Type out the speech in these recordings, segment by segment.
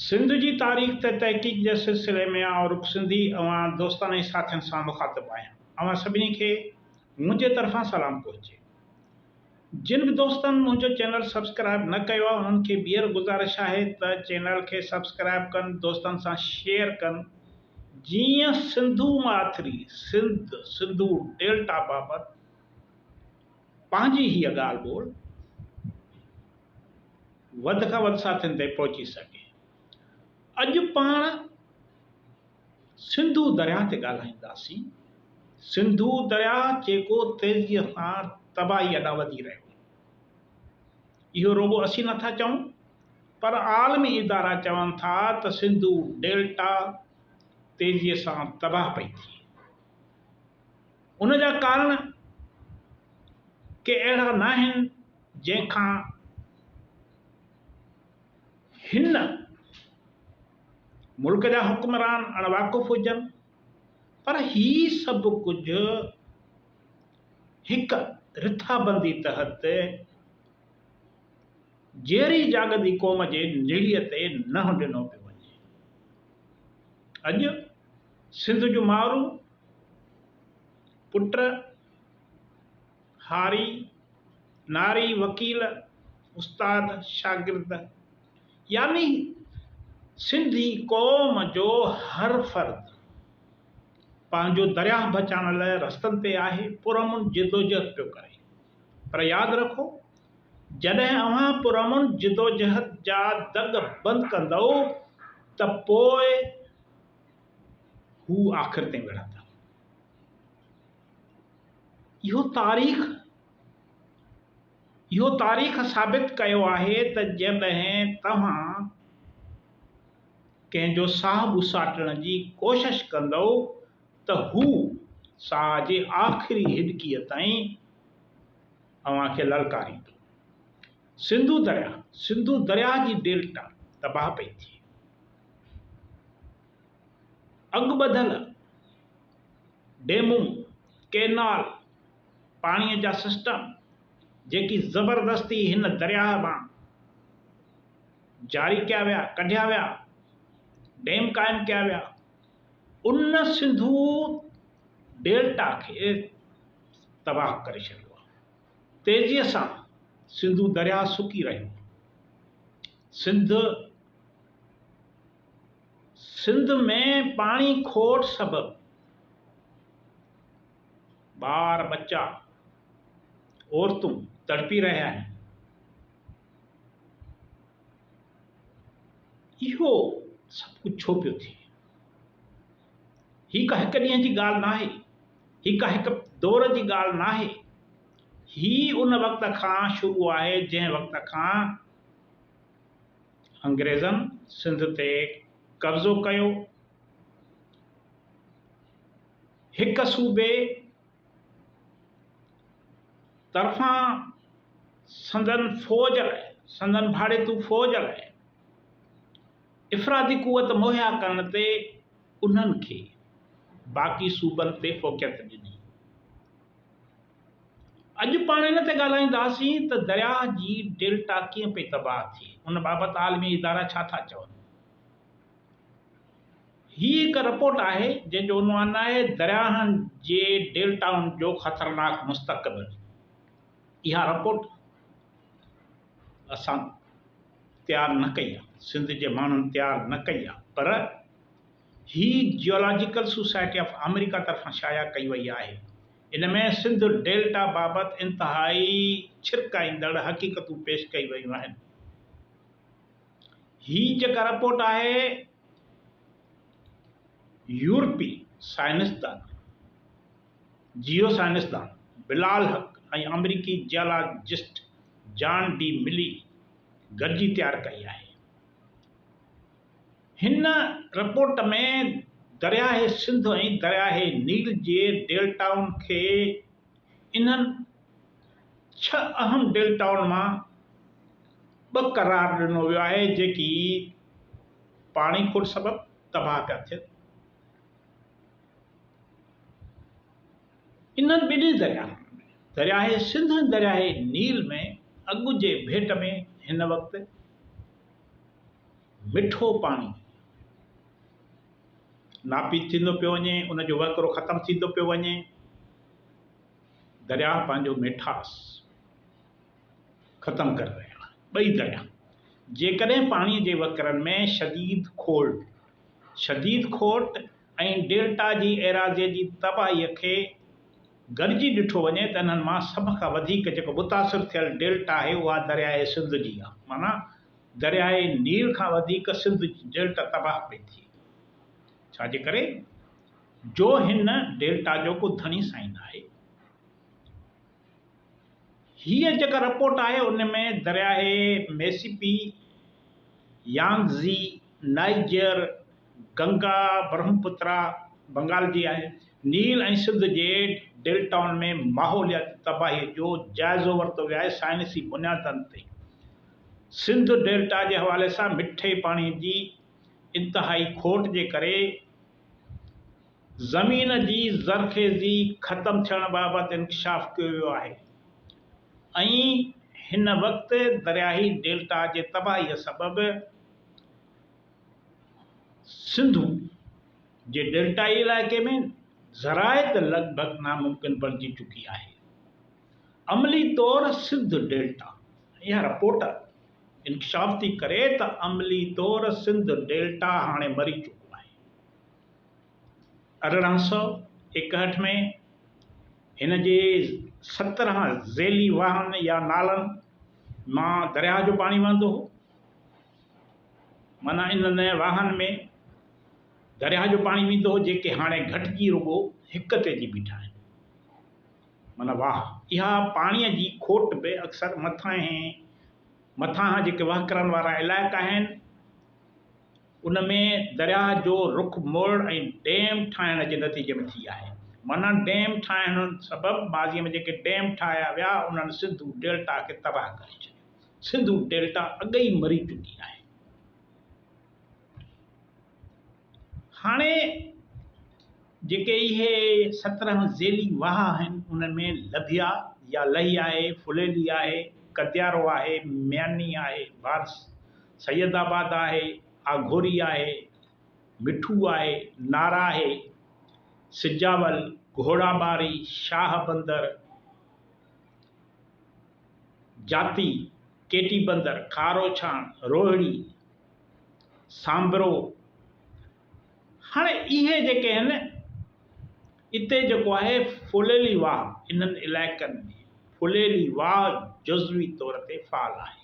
سنڌ جي تاريخ تي تحقيق جي سلسلي ۾ آئون رڳ سنڌي اوهان دوستن ۽ ساٿين سان مخاطب آهيان. اوهان سڀني کي منهنجي طرفان سلام پهچي. جن به دوستن منهنجو چينل سبسڪرائب نه ڪيو آهي انهن کي ٻيهر گذارش آهي ته چينل کي سبسڪرائب ڪن دوستن سان شيئر ڪن جيئن سنڌو ماٿري، سنڌ، سنڌو ڊيلٽا بابت، پنهنجي هيء ڳالهه ٻولهه وڌ کان وڌ ساٿين تائين پهچي سگهي. اڄ پاڻ سنڌو درياهه تي ڳالهائينداسين. سنڌو درياهه جيڪو تيزيء سان تباهيء ڏانهن وڌي رهيو آهي. اهو رڳو اسين نه ٿا چئون پر عالمي ادارا چون ٿا ته سنڌو ڊيلٽا تيزيء سان تباهه پئي ٿئي. ان جا ڪارڻ ڪي اهڙا ناهن جنهن کان هن ملڪ جا حڪمران اڻ واقف هجن پر هي سڀ ڪجهه هڪ رٿابندي تحت جيئري جاڳندي قوم جي نڙيء تي ننهن ڏنو پيو وڃي. اڄ سنڌ جو مارو پٽ هاري ناري وڪيل استاد شاگرد يعني سنڌي قوم جو هر فرد پنهنجو درياهه بچائڻ لاء رستن تي آهي پرامن جدوجهد پيو ڪري پر ياد رکو جڏهن اوهان پرامن جدوجهد جا دڳ بند ڪندؤ ته پوء هو آخر تائين وڙهندا. اهو تاريخ اهو تاريخ ثابت ڪيو آهي ته جڏهن توهان ڪنهن جو ساهه ٻساٽڻ جي ڪوشش ڪندؤ ته هو ساهه جي آخري هڏڪيء تائين اوهان کي للڪاريندو. سنڌو درياهه، سنڌو درياهه جي ڊيلٽا تباهه پئي ٿئي. اڳ ٻڌل ڊيمون، ڪينال، پاڻيء جا سسٽم جيڪي زبردستي هن درياهه مان جاري ڪيا ويا، ڪڍيا ويا، ڊيم قائم ڪيا ويا، ان سنڌو ڊيلٽا کي تباهه ڪري ڇڏيو آهي. تيزيء سان سنڌو درياهه سڪي رهيو. سنڌ سنڌ ۾ پاڻي کوٽ سبب ٻار ٻچا عورتون تڙپي رهيا آهن. اهو سڀ ڪجهه ڇو پيو ٿئي؟ هي ڪا هڪ ڏينهن جي ڳالهه ناهي، هي ڪا هڪ دور جي ڳالهه ناهي، هي ان وقت کان شروع آهي جنهن وقت کان انگريزن سنڌ تي قبضو ڪيو، هڪ صوبي طرفان سندن فوج لاء، سندن ڀاڙيتو فوج لاء. افرادي قوت مهيا ڪرڻ تي انهن کي باقي صوبن تي فوقيت ڏني. اڄ پاڻ ان تي ڳالهائينداسين ته درياهه جي ڊيلٽا ڪيئن پئي تباهه ٿئي، ان بابت عالمي ادارا ڇا ٿا چون. هي هڪ رپورٽ آهي جنهن جو عنوان آهي درياهن جي ڊيلٽائن جو خطرناڪ مستقبل. اها رپورٽ اسان تيار نه ڪئي آ سنڌ جي ماڻهن تيار نه ڪئي آ پر هي جيولاجيڪل سوسائٽي آف آمريڪا طرفان شايع ڪئي وئي آهي ان ۾ سنڌ ڊيلٽا بابت انتهائي ڇرڪائيندڙ حقيقتون پيش ڪئي ويون آهن هي جيڪا رپورٽ آهي يورپي سائنسدان جيو سائنسدان بلال حق ۽ آمريڪي جيالاجسٽ جان ڊي ملي گڏجي تيار ڪئي آهي. هن رپورٽ ۾ درياهه سنڌ ۽ درياهه نيل جي ڊيلٽائن کي انهن ڇهه اهم ڊيلٽائن مان ٻه قرار ڏنو ويو آهي جيڪي پاڻي کوٽ سبب تباهه پيا ٿين. انهن ٻنهي درياهن ۾، درياهه سنڌ ۽ درياهه نيل ۾، اڳ جي ڀيٽ ۾ هن وقت مٺو پاڻي ناپيد ٿيندو پيو وڃي، ان جو وهڪرو ختم ٿيندو پيو وڃي، درياهه پنهنجو ميٺاس ختم ڪري رهيا آهن ٻئي درياهه، جيڪڏهن پاڻي جي وهڪرن ۾ شديد کوٽ شديد کوٽ. ۽ ڊيلٽا جي ايراضيء جي تباهيء کي گڏجي ڏٺو وڃي ته انهن مان سڀ کان وڌيڪ جيڪو متاثر ٿيل ڊيلٽا آهي اها درياهه سنڌ جي آهي معنيٰ درياهه نيل کان وڌيڪ سنڌ جي ڊيلٽا تباهه پئي ٿئي ڇا جي ڪري جو هن ڊيلٽا جو ڪو ڌڻي سائين آهي. هيء جيڪا رپورٽ آهي ان ۾ درياهه Mississippi, Yangtze, Niger, Ganga, Brahmaputra, Bengal جي آهي، نيل ۽ سنڌ جي ڊيلٽائن ۾ ماحولياتي تباهي جو جائزو ورتو ويو آهي سائنسي بنيادن تي سنڌ ڊيلٽا جي حوالي سان مٺي پاڻي جي انتهائي کوٽ جي ڪري زمين جي زرخيزي ختم ٿيڻ بابت انڪشاف ڪيو ويو آهي ۽ هن وقت درياهي ڊيلٽا جي تباهي سبب سنڌو جي ڊيلٽائي علائقي ۾ زراعت لڳ ڀڳ ناممڪن بڻجي چڪي آهي. عملي طور سنڌ ڊيلٽا اها رپورٽ انڪشاف ٿي ڪري ته عملي طور سنڌ ڊيلٽا هاڻي مري چڪو آهي. ارڙهن سؤ ايڪهٺ ۾ هن جي سترهن ذيلي واهن يا نالن مان درياهه جو پاڻي وهندو هو. معنيٰ انهن واهن ۾ درياهه جو پاڻي ويندو هو جيڪي هاڻي گهٽجي رڳو هڪ تي اچي بيٺا آهن. معنيٰ واهه اها پاڻي جي کوٽ به اڪثر مٿانهين مٿانهان جيڪي وهڪرن وارا علائقا آهن، ان ۾ درياهه جو رخ موڙڻ ۽ ڊيم ٺاهڻ جي نتيجي ۾ ٿي آهي. معنيٰ ڊيم ٺاهڻ سبب ماضيء ۾ جيڪي ڊيم ٺاهيا ويا، انهن سنڌو ڊيلٽا کي تباهه ڪري ڇڏيو. سنڌو ڊيلٽا اڳ ئي مري چڪي آهي. هاڻي جيڪي اهي سترهن ذيلي واهه آهن، انهن ۾ لڌيا يا لهي آهي، ڦليلي آهي، ڪديارو آهي، مياني آهي، وارس. سيد آباد آهي، آگهوري آهي، مٺو آهي، نارا آهي، سجاول، گهوڙا ٻاري، شاهه بندر، جاتي، ڪي ٽي بندر، کاروڇاڻ، روهڙي، سانبرو، هاڻي اهي جيڪي آهن اتي جيڪو آهي ڦليلي واهه انهن علائقن ۾ ڦليلي واهه جزوي طور تي فعال آهي.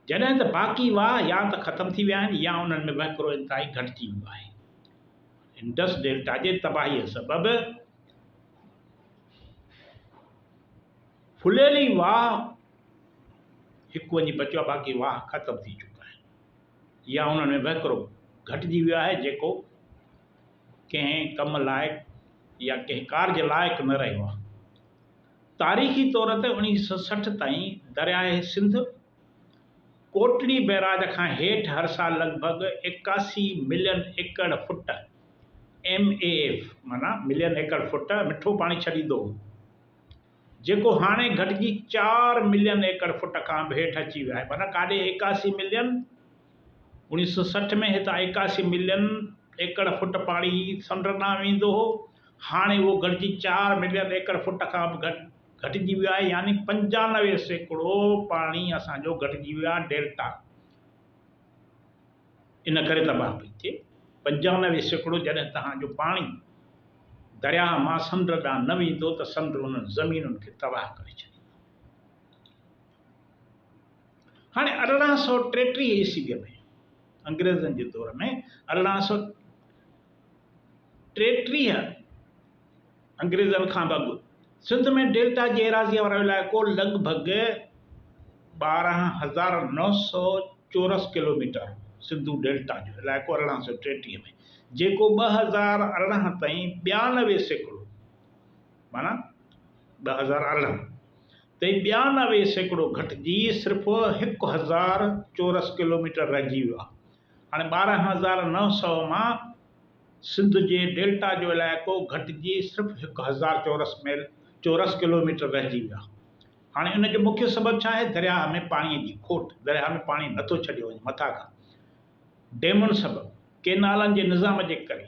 جڏهن ته باقي واهه يا ته ختم ٿي ويا آهن يا انهن ۾ وهڪرو انتهائي گهٽجي ويو آهي. انڊس ڊيلٽا جي تباهيء سبب ڦليل ئي واهه هڪ وڃي بچيو آهي، باقي واهه ختم ٿي چڪا آهن يا انهن ۾ وهڪرو گهٽجي ويو آهي جيڪو ڪنهن ڪم لائق يا ڪنهن ڪارج لائق نه رهيو آهي. تاريخي طور تي اوڻيھ سئو سٺ تائين درياهه سنڌ ڪوٽڙي بئراج کان هيٺ هر سال لڳ ڀڳ ايڪاسي ملين ايڪڙ فٽ، MAF، معنيٰ ملين ايڪڙ فٽ، مٺو پاڻي ڇڏيندو هو، جيڪو هاڻي گهٽجي چار ملين ايڪڙ فٽ کان به هيٺ اچي ويو آهي، معنيٰ ڪاڏي ايڪاسي ملين اوڻيهه سئو سٺ ۾ هتان ايڪاسي ملين ايڪڙ فوٽ پاڻي سمنڊ ڏانهن ويندو هو، هاڻي اهو گهٽجي چار ملين ايڪڙ فوٽ کان به گهٽجي ويو آهي يعني پنجانوي سيڪڙو پاڻي اسان جو گهٽجي ويو آهي ڊيلٽا ان ڪري تباهه پئي ٿئي پنجانوي سيڪڙو جڏهن تهان جو پاڻي درياهه مان سمنڊ ڏانهن نه ويندو ته سمنڊ انهن زمينن کي تباهه ڪري ڇڏيندو. هاڻي ارڙهن سؤ ٽيٽيهه عيسويء ۾ انگريزن جي دور ۾ ارڙهن سؤ ٽيٽيهه انگريزن کان به اڳ سنڌ ۾ ڊيلٽا جي ايراضيء وارو علائقو لڳ ڀڳ ٻارهن هزار نو سؤ چورس ڪلوميٽر هو. سنڌو ڊيلٽا جو علائقو ارڙهن سؤ ٽيٽيهه ۾ جيڪو ٻه هزار ارڙهن تائين ٻيانوي سيڪڙو معنيٰ ٻه هزار ارڙهن تائين ٻيانوي سيڪڙو گهٽجي صرف هڪ هزار چورس ڪلوميٽر رهجي ويو آهي. هاڻي ٻارهن هزار نو سؤ مان سنڌ جي ڊيلٽا جو علائقو گهٽجي صرف هڪ هزار چورس ميل، چورس ڪلوميٽر، رهجي ويو آهي. هاڻي ان جو مکيه سبب ڇا آهي؟ درياهه ۾ پاڻي جي کوٽ، درياهه ۾ پاڻي نه ٿو ڇڏيو وڃي مٿان کان، ڊيمن سبب، ڪينالن جي نظام جي ڪري.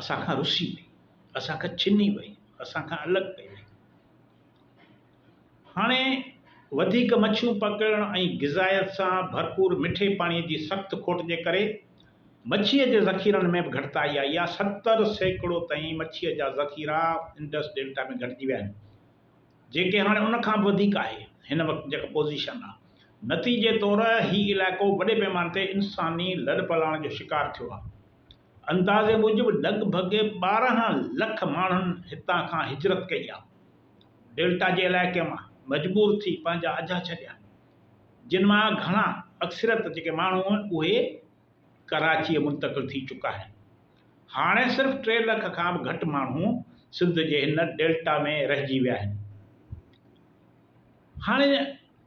اسان کان رسي وئي، اسان کان ڇني وئي، اسان کان الڳ پئي وئي. هاڻي وڌيڪ مڇيون پڪڙڻ ۽ غذائيت سان ڀرپور مٺي پاڻي جي سخت کوٽ جي ڪري مڇيء جي ذخيرن ۾ به گهٽتائي آئي آهي، ستر سيڪڙو تائين مڇيء جا ذخيرا انڊس ڊيلٽا ۾ گهٽجي ويا آهن، جيڪي هاڻي ان کان به وڌيڪ آهي هن وقت جيڪا پوزيشن آهي. نتيجي طور هي علائقو وڏي پيماني تي انساني لڏپلاڻ جو شڪار ٿيو آهي. اندازي موجب لڳ ڀڳ ٻارهن لک ماڻهن هتان کان هجرت ڪئي آهي. ڊيلٽا جي علائقي مان مجبور ٿي پنهنجا اجها ڇڏيا جن مان گهڻا اڪثريت جيڪي ماڻهو آهن اهي ڪراچيء منتقل ٿي چڪا آهن. هاڻي صرف ٽي لک کان به گهٽ ماڻهو سنڌ جي هن ڊيلٽا ۾ رهجي ويا آهن. هاڻي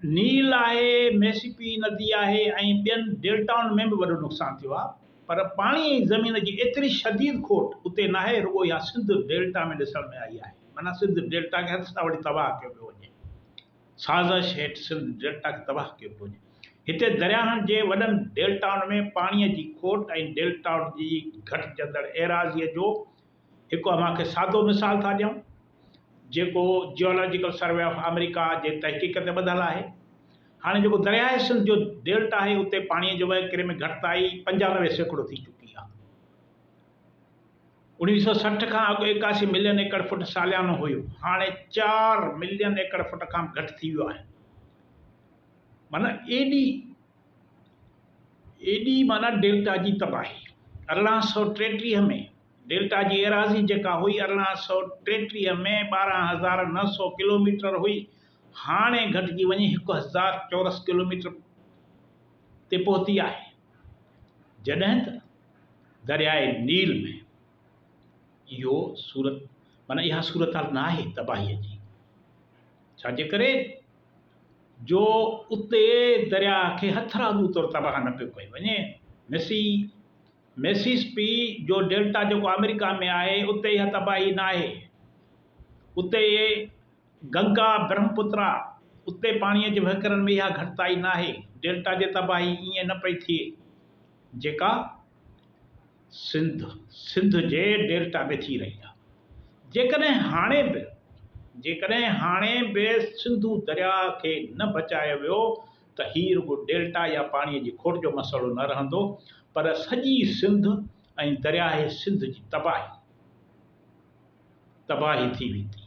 نيل آهي، ميسيپي ندي آهي ۽ ٻين ڊيلٽائن ۾ به وڏو نقصان ٿيو آهي پر پاڻي ۽ زمين جي ايتري شديد کوٽ اتي ناهي رڳو اها سنڌ ڊيلٽا ۾ ڏسڻ ۾ آئي آهي معنيٰ سنڌ ڊيلٽا کي هٿ سان وٺي تباهه ڪيو پيو وڃي سازش هيٺ سنڌ ڊيلٽا کي تباهه ڪيو پيو وڃي هتي درياهن جي وڏن ڊيلٽائن ۾ پاڻي جي کوٽ ۽ ڊيلٽائن جي گهٽجندڙ ايراضي جو هڪ اوهان کي سادو مثال ٿا ڏيون، جيڪو جيولاجيڪل سروي آف آمريڪا جي تحقيق تي ٻڌل آهي. هاڻي جيڪو درياهه سنڌ جو ڊيلٽا آهي، اتي پاڻيء جي وهڪري ۾ گهٽتائي پنجانوي سيڪڙو ٿي چڪي آهي. اوڻيهه سؤ سٺ کان اڳ ايڪاسي ملين ايڪڙ فٽ ساليانو هيو، هاڻي چار ملين ايڪڙ فٽ کان به گهٽ ٿي ويو آهي. معنيٰ ايڏي ايڏي معنيٰ ڊيلٽا جي تباهي. ارڙهن سؤ ٽيٽيهه ۾ ڊيلٽا جي ايراضي جيڪا هئي ارڙهن سؤ ٽيٽيهه ۾ ٻارهن هزار نو سؤ ڪلوميٽر هئي هاڻي گهٽجي وڃي هڪ هزار چورس ڪلوميٽر تي پهتي آهي جڏهن ته درياء نيل ۾ اهو صورت معنيٰ اها صورتحال ناهي تباهي جي ڇا جي ڪري جو اتي درياء کي هٿرادو طور تباهه نه پيو ڪيو وڃي. مسي Mississippi جو ڊيلٽا جيڪو آمريڪا ۾ آهي اتي اها تباهي نه آهي. اتي گنگا برهمپترا اتي پاڻيء جي وهڪرن ۾ اها گهٽتائي نه آهي. ڊيلٽا جي تباهي ائين نه پئي ٿئي جيڪا. سنڌ، سنڌ جي ڊيلٽا ۾ ٿي رهي آهي. جيڪڏهن هاڻي به جيڪڏهن هاڻي به سنڌو درياء کي نه بچايو ويو ته هي رڳو ڊيلٽا يا پاڻي جي کوٽ جو مسئلو نه رهندو پر سڄي سنڌ ۽ درياهه سنڌ جي تباهي تباهي ٿي ويندي.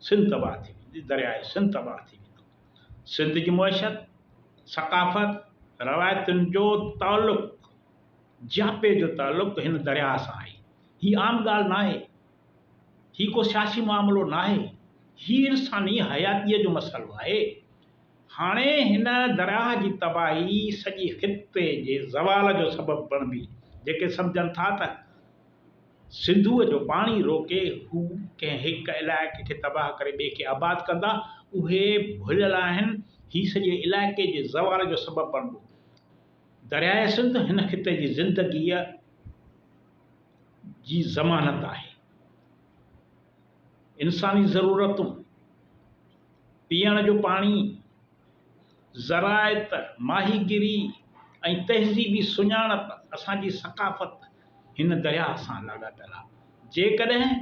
سنڌ تباهه ٿي ويندي، درياهه سنڌ تباهه ٿي ويندو. سنڌ جي معشيت، ثقافت، روايتن جو تعلق جياپي جو تعلق هن درياهه سان آهي. هي عام ڳالهه ناهي. هي ڪو سياسي معاملو ناهي. هي انساني حياتيء جو مسئلو آهي. هاڻي هن درياهه جي تباهي سڄي خطي جي زوال جو سبب بڻبي. جيڪي سمجهن ٿا ته سنڌوء جو پاڻي روڪي هو ڪنهن هڪ علائقي کي تباهه ڪري ٻئي کي آباد ڪندا، اهي ڀليل آهن. هي سڄي علائقي جي زوال جو سبب بڻبو. درياء سنڌ هن خطي جي زندگيء جي ضمانت آهي. انساني ضرورتون، پيئڻ جو پاڻي، زراعت، ماهي گيري ۽ تهذيبي سڃاڻپ اسان جي ثقافت هن درياء سان لاڳاپيل آهي. جيڪڏهن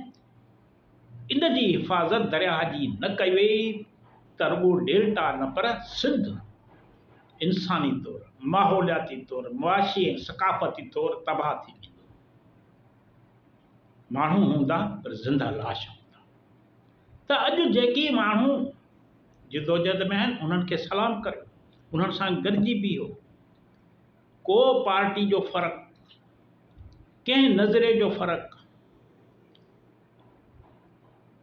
ان جي حفاظت درياهه جي نه ڪئي وئي ته رڳو ڊيلٽا نه پر سنڌ انساني طور، ماحولياتي طور، معاشي ۽ ثقافتي طور تباهه ٿي ويندو. ماڻهو هوندا پر زنده لاش هوندا ته اڄ جيڪي ماڻهو جدوجهد ۾ آهن انهن کي سلام ڪريو، انهن سان گڏجي بيهو. ڪو پارٽي جو فرق، ڪنهن نظرئي جو فرق،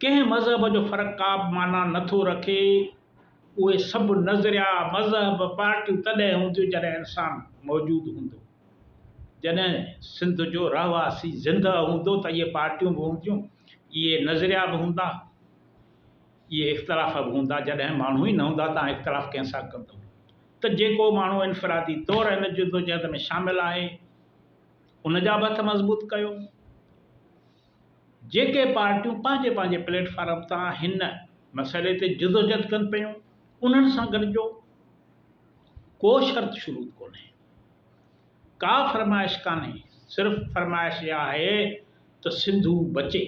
ڪنهن مذهب جو فرق ڪابه معنيٰ نه ٿو رکي. اهي سڀ نظريا، مذهب، پارٽيون تڏهن هونديون جڏهن انسان موجود هوندو. جڏهن سنڌ جو رهواسي زندهه هوندو ته اهي پارٽيون به هونديون، اهي نظريا به هوندا، اهي اختلاف به هوندا. جڏهن ماڻهو ئي نه هوندا ته آن اختلاف ڪنهن سان ڪندم. ته جيڪو ماڻهو انفرادي طور هن جدوجهد ۾ شامل آهي، ان جا به هٿ مضبوط ڪيو. جيڪي پارٽيون پنهنجي پنهنجي پليٽ فارم تان هن مسئلي تي جدوجهد ڪن پيون، انهن سان گڏجو. ڪو شرط شروط ڪونهي، ڪا فرمائش ڪانهي، صرف فرمائش اها آهي ته سنڌو بچي،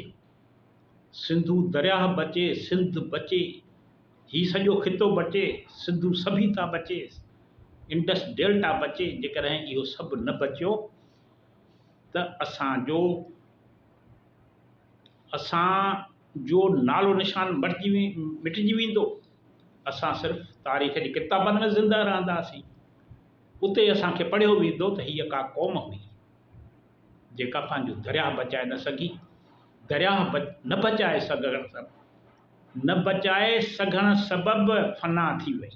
سنڌو درياهه بچي، سنڌ بچي. هي سڄو خطو بچي، سنڌو سڀيتا بچي، انڊس ڊيلٽا بچي، جيڪڏهن اهو سڀ نه بچيو ته اسان جو اسان جو نالو نشان مٽجي ويندو، اسان صرف تاريخ جي ڪتابن ۾ زنده رهنداسين، اتي اسان کي پڙهيو ويندو ته هيء ڪا قوم هئي، جيڪا پنهنجو درياهه بچائي نه سگهي، درياهه نه بچائي سگهڻ سبب. نه بچائي سگهڻ سبب فنا ٿي وئي.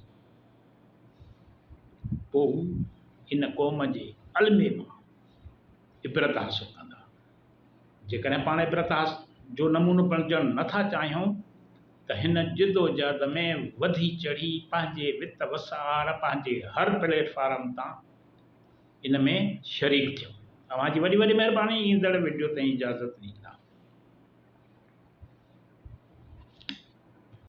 پوء هو ان قوم جي المي مان عبرت حاصل ڪندا. جيڪڏهن پاڻ عبرت جو نمونو بڻجڻ نه ٿا چاهيون ته هن جدوجهد ۾ وڌي چڙهي پنهنجي وت وسار پنهنجي هر پليٽ فارم تان ان ۾ شريڪ ٿيو. اوهان جي وڏي وڏي مهرباني ايندڙ وڊيو تائين اجازت ڏيندا.